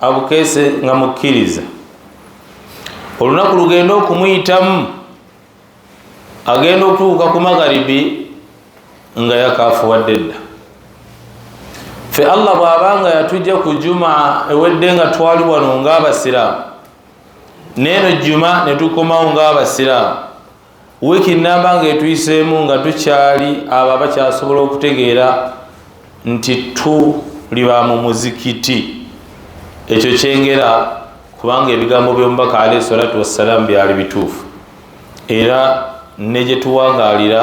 abukeese nga mukkiriza olunaku lugenda okumuyitamu agenda okutuuka ku magharibi nga yakafuwadde dda fe allah bwabanga yatujja ku juma ewedde nga twali wano ngaabasiraamu neeno juma netukomawo ngaabasiraamu wiiki nnamba ng'etuyiseemu nga tukyali abo abakyasobola okutegeera nti tuli ba mu muzikiti ekyo kyengera kubanga ebigambo by'omubaka alaihi salatu wassalaamu byali bituufu era ne gye tuwangaalira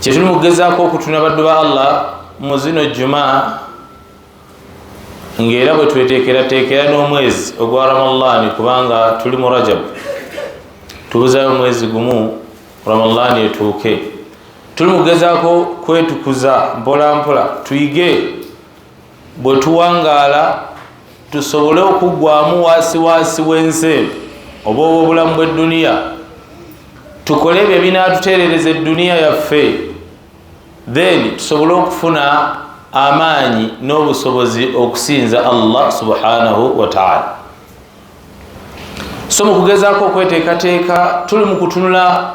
kyetuli mukugezaako okutuna baddu ba allah mu zino juma ngaera bwetwetekerateekera n'omwezi ogwa ramallani kubanga tuli mu rajabu tubuzayo omwezi gumu ramallani etuuke tuli mukugezaako kwetukuza mpolampola tuyige bwe tuwangaala tusobole okuggwamu waasiwaasi w'ensi eno oba obw'obulamu bw'edduniya tukole ebyo ebinaatuteerereza edduniya yaffe then tusobole okufuna amaanyi n'obusobozi okusinza allah subhanahu wataala so mu kugezaako okweteekateeka tuli mu kutunula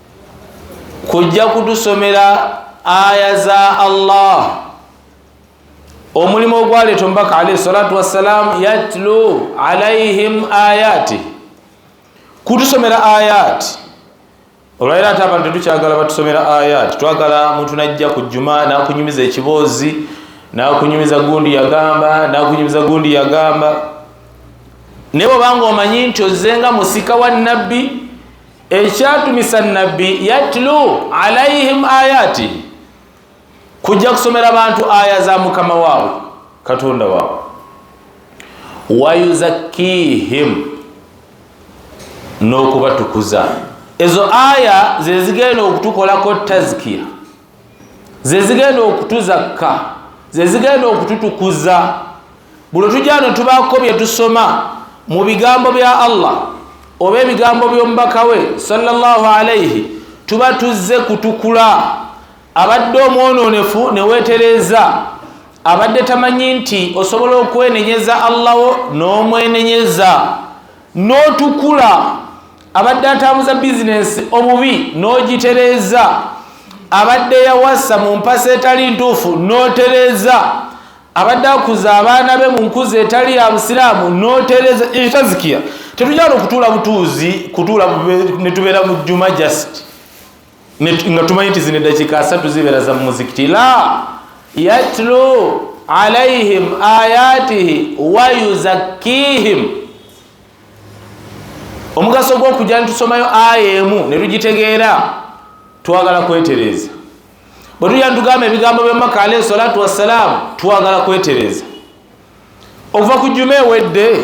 kujja kutusomera aya za allah omulimu ogwaleeta omubaka alaihi salatu wassalam yatlu alaihim ayati kutusomera ayati olwaliro ate abantu tetukyagala batusomera ayati twagala muntu najja ku juma nakunyumiza ekiboozi nakunyumiza gundi yagamba nakunyumiza gundi yagamba naye obanga omanyi nti ozenga musika wa nabbi ekyatumisa nabbi yatlu alaihim ayati kujja kusomera abantu aya za mukama waabwe katonda waabwe wayuzakihim n'okubatukuza ezo aya zezigenda okutukolako tazkiya zezigenda okutuzakka zezigenda okututukuza buno tujano tubaako bye tusoma mu bigambo bya allah oba ebigambo by'omubaka we sallallahu alaihi tuba tuzze kutukula abadde omwonoonefu ne weetereeza abadde tamanyi nti osobola okwenenyeza allaho n'omwenenyeza n'otukula abadde atambuza bizinensi obubi n'ogitereeza abadde yawasa mu mpasa etali ntuufu n'otereeza abadde akuza abaana be mu nkuza etali ya busiraamu n'otereeza ekyo tazikiya tetujala okutuula butuuzi kutuula ne tubeera mu jjuma just nga tumanyi nti zino eddakiika asatu zibeera za mumuzikiti la yatlu alaihim ayatihi wayuzakkihim omugaso gwokujja nitusomayo aya emu netugitegeera twagala kwetereeza bwetujja nitugamba ebigambo byamaka alaihi salatu wassalaamu twagala kwetereeza okuva ku juma ewedde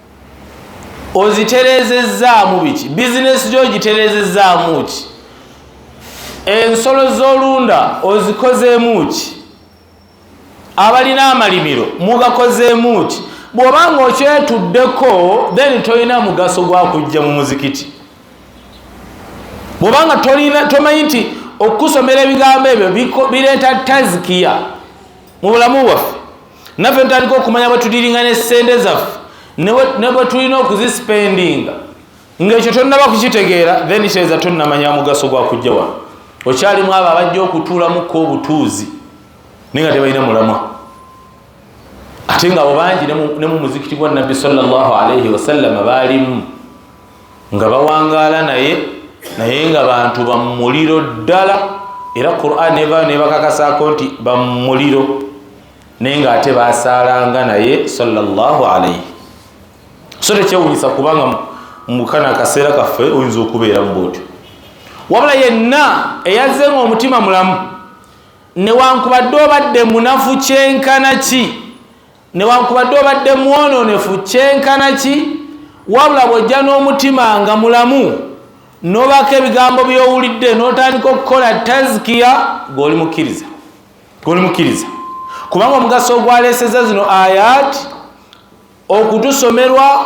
ozitereezezzaamu biki bizinesi gyo ogitereezezzaamu ki ensolo z'olunda ozikozeemu ki abalina amalimiro mugakozeemu ki bw'oba nga okyetuddeko then tolina mugaso gwa kujja mu muzikiti bw'oba nga tomanyi nti okusomera ebigambo ebyo bireeta tazikiya mu bulamu bwaffe naffe ntandika okumanya bwetudiringa ne sente zaffe ne bwetulina okuzisipendinga ngaekyo tonnaba kukitegeera then kyeza tonnamanya mugaso gwakujja wano okyalimu abo abajja okutuulamuko obutuuzi naye nga tebalina mulamwa ate nga abo bangi ne mu muzikiti gwa nabbi sallallahu alaihi wasallama baalimu nga bawangaala naye naye nga bantu bamumuliro ddala era quran eva nebakakasako nti bamumuliro naye nga ate basaalanga naye salllahu alaihi so tekyewunyisa kubanga mukana akaseera kaffe oyinza okubeera mu bwotyo wabula yenna eyazze nga omutima mulamu newankubadde obadde munafu kyenkana ki newankubadde obadde mwononefu kyenkana ki wabula bwojja n'omutima nga mulamu nobako ebigambo byowulidde notandika okukola tazkiya goli mukkiriza goli mukkiriza kubanga omugaso ogwaleseza zino ayat okutusomerwa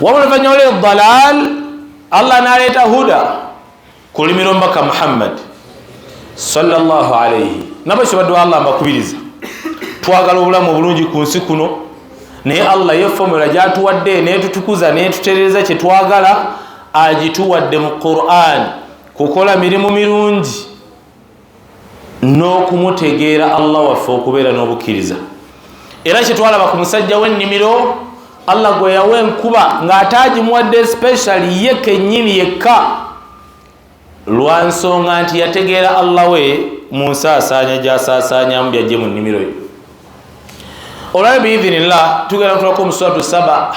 wabula oluvannyuma lwe dalal allah naleeta huda ku lulimi lwomubaka muhammad salllah alaihi nabo kibadde wa allah mbakubiriza twagala obulamu obulungi ku nsi kuno naye allah ye fomula gyatuwadde netutukuza netuterereza kyetwagala agituwadde mu quran kukola mirimu mirungi n'okumutegeera allah waffe okubeera n'obukkiriza era kyetwalaba ku musajja w'ennimiro allah gwe yawa enkuba ng'ate agimuwadde speciali ye kennyini yekka lwa nsonga nti yategeera allah we mu nsaasaanya gy'asaasaanyamu byajje mu nnimiro ye olwayo biidhinillah tugenda kutulako omuswatu saba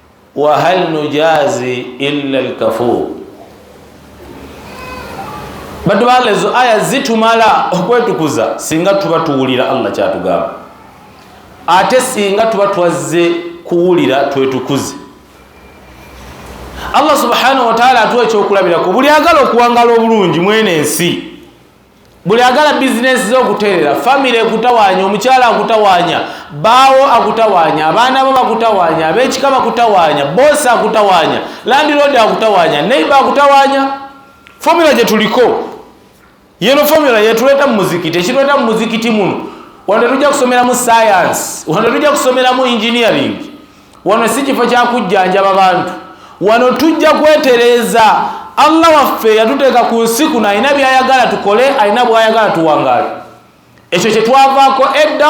wahal nujazi illa lkafur batu bala ezo aya zitumala okwetukuza singa tuba tuwulira allah kyatugamba ate singa tuba twazze kuwulira twetukuze allah subhanahu wataala atuwa ekyokulabiraku buli agala okuwangala obulungi mwene ensi buli agala bizinesi ze okuterera famiry ekutawanya omukyala akutawanya baawo akutawanya abaana bo bakutawanya abekika bakutawanya bosi akutawanya landiroodi akutawanya neiba akutawanya fomula gyetuliko yeno fomula yetuleeta mu muzikiti ekituleeta mu muzikiti muno wano tetujja kusomeramu sayansi wano tetujja kusomeramu engineering wano si kifo kyakujjanjaba bantu wano tujja kwetereeza allah waffe yatuteeka ku nsi kuno alina byayagala tukole alina bwayagala tuwangaale ekyo kyetwavaako edda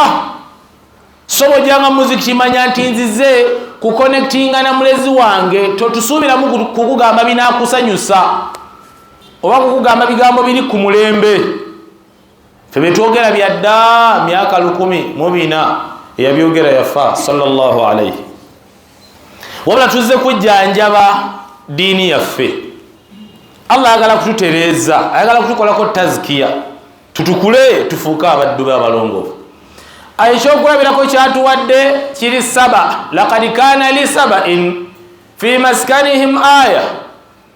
sobojanga muziki kimanya nti nzize kukonektinga na mulezi wange totusuubiramu kukugamba binakusanyusa oba kukugamba bigambo biri ku mulembe fe byetwogera byadda myaka lukumi mubina eyabyogera yafa salllahu alaihi wabula tuzze kujjanjaba diini yaffe allah ayagala kututereeza ayagala kutukolako tazikiya tutukule tufuuke abaddu be abalongoofu ekyokulabirako kyatuwadde kiri saba lakad kana li sabain fi maskanihim aya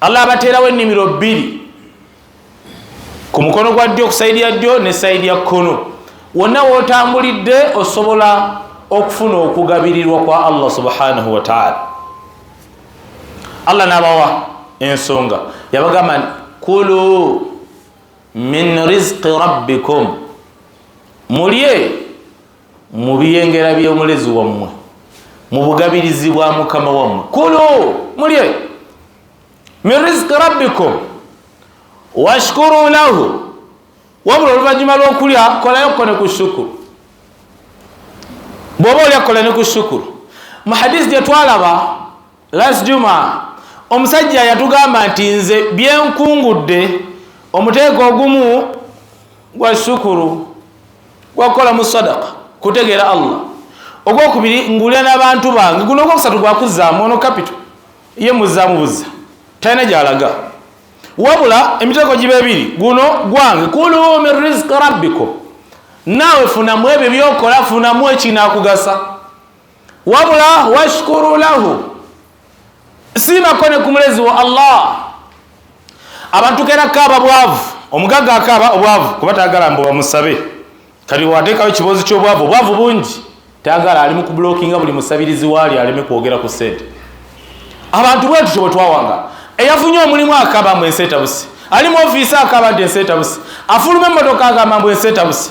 allah abateerawo ennimiro bbiri ku mukono gwa ddyo ku sayidi ya ddyo ne sayidi ya kkono wonna wootambulidde osobola okufuna okugabirirwa kwa allah subhanahu wataala allah nabawa ensonga yabagamba nti kulu min rizqi rabbikum mulye mu biyengera by'omulezi wammwe mu bugabirizi bwa mukama wammwe kulu mulye min riziki rabbikum washkuru lahu wabula oluvannyuma lw'okulya kolayo ko ne ku shukuru bw'oba olya kola ne ku shukuru mu hadisi gye twalaba last juma omusajja yatugamba nti nze byenkungudde omuteeko ogumu gwa shukuru gwakukola mu sadaka kutegeera allah ogwokubiri ngulira n'abantu bange guno ogwokusatu gwakuzaamu ono kapito ye muzaamu buzza talina gyalaga wabula emiteeko giba ebiri guno gwange kulu min riziki rabbikum naawe funamu ebyo byokola funamu ekinakugasa wabula washkuru lahu siimako ne ku mulezi wa allah abantu kera kaaba bwavu omugagga akaaba obwavu kuba tagala mbu bamusabe kati wateekawo ekiboozi ky'obwavu obwavu bungi tagala ali mu kubulokinga buli musabirizi waali aleme kwogera ku sente abantu bwetutyo bwe twawanga eyafunye omulimu akaaba mbu ensi etabuse ali mu ofiisi akaaba nti ensi etabuse afuluma emmotoka agamba mbu ensi etabuse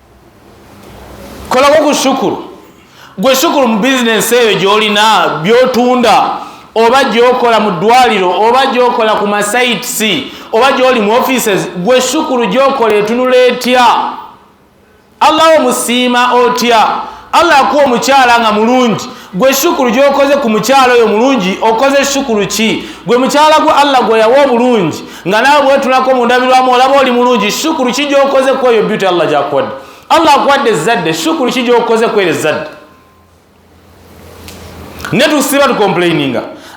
kolako ku sukulu gwe sukulu mu bizinensi eyo gyolina byotunda oba gyokola mu ddwaliro oba gyokola ku masites oba gyoli mu offices gwe sukulu gyokola etunula etya allah omusiima otya allah akuwa omukyala nga mulungi gwe shukuru gyokoze ku mukyalo oyo mulungi okoze shukuru ki gwe mukyala gwe allah gwe yawa obulungi nga nawe bwetulako mundabirwamu olaba oli mulungi shukuru ki gyokoze ku eyo beauty allah gyakuwadde allah akuwadde ezzadde shukuru ki gyokoze ku ero ezzadde netusiba tukomplaininga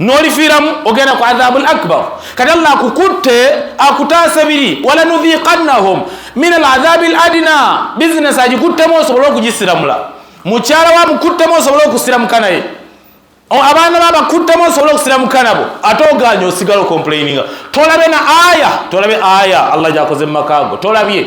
nolifiiramu ogenda ku adhabu l akbar kati allah akukutte akutaase biri walanudhiqannahum min al adhabi l adina bizinesi agikuttemu osobole okugisiramula mukyala wamukuttemu osobole okusiramuka naye abaana babakuttemu osobole okusiramuka nabo ate oganye osigala okomplaininga tolabe na aya tolabe aya allah gyakoze mu makaago tolabye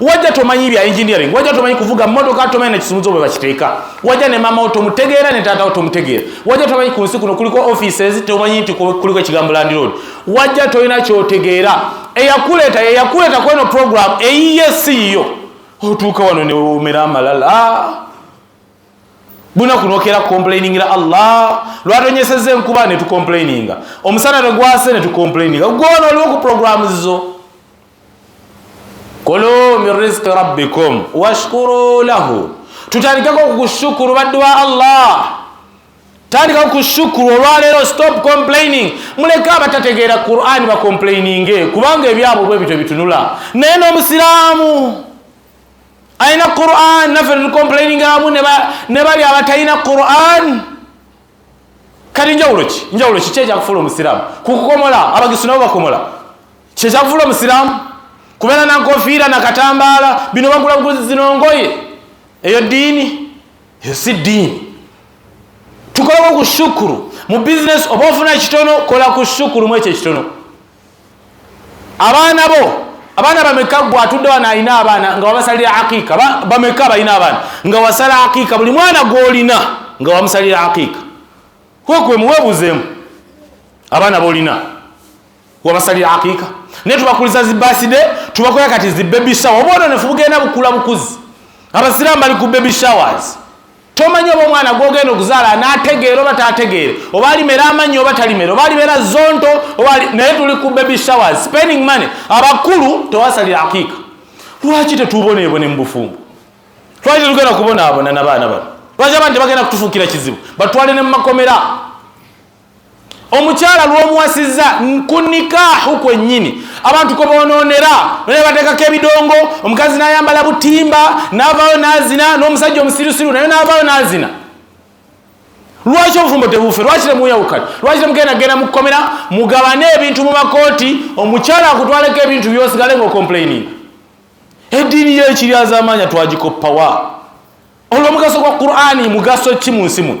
wajja tomanyi bya engineering wajja tomanyi kuvuga motoka tomanyi nekisumuzo bwe bakiteeka wajja ne maama wo tomutegeera ne taata wo tomutegeera wajja tomanyi ku nsi kuno kuliko offices tomanyi nti kuliko ekigambo landiroad wajja tolina kyotegeera eyakuleeta yeyakuleeta kweno program eyiye siiyo otuuka wano newomera amalala bunaku nokera kukomplainingira allah lwatonyeseza enkuba netukomplaininga omusana negwase netukomplaininga gwona oliwo ku programu zo kulu min rizqi rabbikum washkuru lahu tutandikeko okushukuru baddu ba allah tandika kushukuru olwaleero stop complaining muleke abatategeera qurani bacomplaininge kubanga ebyabwe bwe bityo bitunula naye n'omusiraamu alina quran naffe tucomplaininga amu ne bali abatalina quran kati njawulo ki njawulo ki kyekyakufula omusiraamu kukukomola abagisu nabo bakomola kyekyavula omusiramu kubeera nankofiira nakatambaala bino bagula buguzi zinongoye eyo diini eyo si diini tukoleko ku shukuru mu bizinesi oba ofuna ekitono kola ku shukuru mwekyo ekitono abaana bo abaana bameka gwe atudde wano alina abaana nga wabasalira aqiika bameka balina abaana nga wasala aqiika buli mwana gwolina nga wamusalira aqiika kwekwemuwebuzeemu abaana bolina wabasalira aqiika naye tubakuliza zibaside tubakola kati zi baby shower oba ono nefu bugenda bukula bukuzi abasiraamu bali ku baby showers tomanyi oba omwana gwogenda okuzaala anategeera oba tategeere oba alimera amanyi oba talimera oba alimera zonto naye tuli ku baby showers spending money abakulu tewasalira aqiika lwaki tetuboneebone mu bufumbo lwaki tetugenda kubonaabona nabaana bano lwaki abantu tebagenda kutufuukira kizibu batwale ne mu makomera omukyala lwomuwasizza ku nikaahu kwennyini abantu kwe bonoonera naye bateekako ebidongo omukazi n'ayambala butimba n'avaayo n'azina n'omusajja omusirusiru naye n'avaayo n'azina lwaki obufumbo tebuufe lwaki temuyawukana lwaki temugenda genda mukukomera mugabane ebintu mu makooti omukyala akutwaleko ebintu byosigale ngaokomplaininga eddiini yekiryazamaanya twagikoppawa olwomugaso gwa qurani mugaso ki mu nsi muno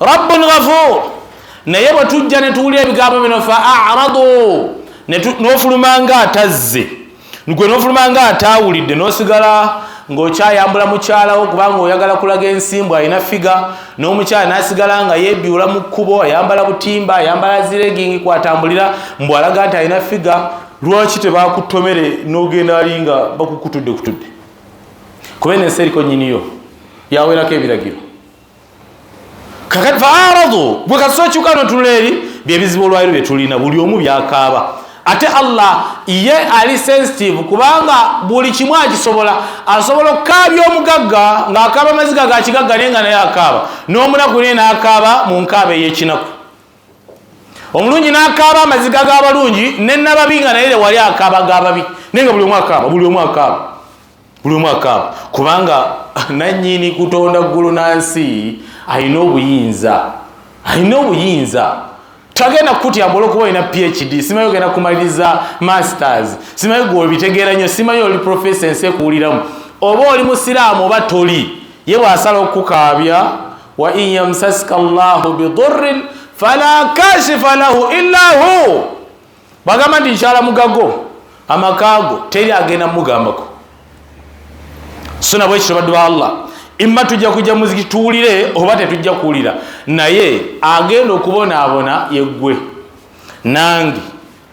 rabbun ghafuur naye bwe tujja ne tuwulira ebigambo bino fa aradu n'ofuluma nga atazze gwe n'ofuluma nga ataawulidde n'osigala ng'okyayambula mukyalawo kubanga oyagala kulaga ensimbu alina figa n'omukyala n'asigala nga yeebiwula mu kkubo ayambala butimba ayambala ziregingi kwatambulira mbu alaga nti alina figa lwaki tebakutomere n'ogenda ali nga bakukutudde kutudde kuba eno ensi eriko nyiniyo yawerako ebiragiro kakati faaradu gwe kasita okyuka notunula eri byebizibu olwaliro byetulina buli omu byakaaba ate allah ye ali sensitive kubanga buli kimu akisobola asobola okukaabya omugagga ng'akaaba amaziga ga kigagga naye nga naye akaaba n'omunaku naye n'akaaba mu nkaaba ey'ekinaku omulungi n'akaaba amaziga g'abalungi ne nababi nga naye lewali akaaba g'ababi naye nga buli omu akaaba buli omu akaaba buli omu akaaba kubanga nannyini kutonda ggulu na nsi alina obuyinza alina obuyinza tagenda kukutya mbola okuba olina phd simanyi ogenda kumaliriza masters simanyi gwe obitegeera nnyo simanyi oli profesa ensi ekuwuliramu oba oli musiraamu oba toli ye bwasala okukukaabya wa in yamsaska llahu bidurrin fala kashifa lahu illa hu bwagamba nti nkyala mugago amakaago teri agenda mugambako so nabwe ekyo baddu ba allah imma tujja kujja muziki tuwulire oba tetujja kuwulira naye agenda okubonaabona yeggwe nange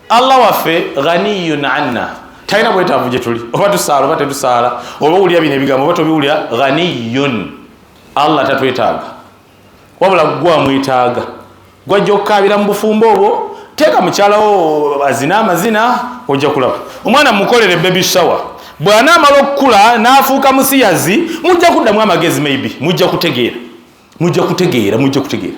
allah waffe ghaniyun anna talina bwetaavu gye tuli oba tusaala oba tetusaala oba owulira bino ebigambo oba tobiwulira ghaniyun allah tatwetaaga wabula gwe amwetaaga gwajja okukaabira mu bufumbo obwo teeka mukyalawo azina amazina ojja kulaba omwana mukolere bebi sawa bw'anaamala okukula n'afuuka musiyazi mujja kuddamu amagezi maybe mujja kutegeera mujja kutegeera mujja kutegeera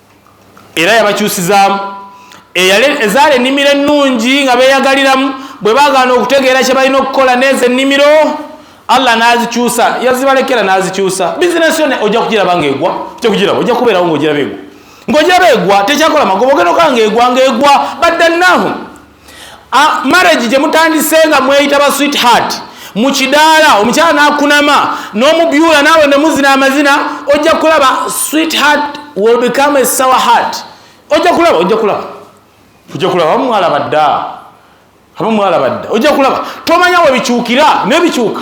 era yabakyusizaamu ezaala ennimiro ennungi nga beeyagaliramu bwe bagaana okutegeera kye balina okukola neezo ennimiro allah n'azikyusa yazibalekera n'azikyusa bizinesi yona ojja kugiraba ngaegwa ojja kugiraba ojja kubeerawo ngaogiraba egwa ngaogiraba egwa tekyakola magoba ogenda okaa ngaegwa ngaegwa baddannahu ah, marriage gye mutandise nga mweyita ba sweet heart mu kidaala omukyala n'akunama n'omubyula naawe ne muzina amazina ojja kulaba sweet heart will become a sour heart ojja kulaba ojja kulaba ojja kulaba abamu mwalaba dda abamu mwalaba dda ojja kulaba tomanya we bikyukira naye bikyuka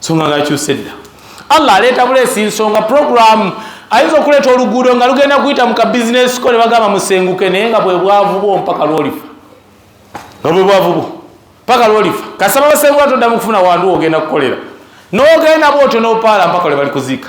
songa ngakyuse dda allah aleeta buleesi nsonga programu ayinza okuleeta oluguudo nga lugenda kuyita mu kabizinesi ko ne bagamba musenguke naye nga bwe bwavu bwo mpaka lwolifa nga bwe bwavu bwo mpaka lwolifa kasaba basenguka toddamu kufuna wandu ogenda kukolera nogenda bwotyo nopaala mpaka lwe balikuziika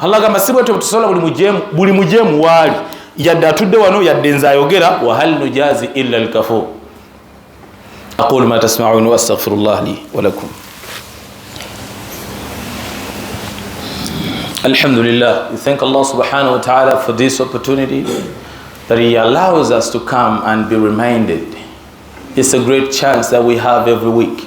allah gamba si bwetyo bwetusobola buli mujemu buli mujemu waali yadde atudde wano yadde nze ayogera wahal nujazi illa lkafur aqulu ma tasmaun wastaghfiru llah li walakum Alhamdulillah, we thank Allah subhanahu wa ta'ala for this opportunity that He allows us to come and be reminded. It's a great chance that we have every week.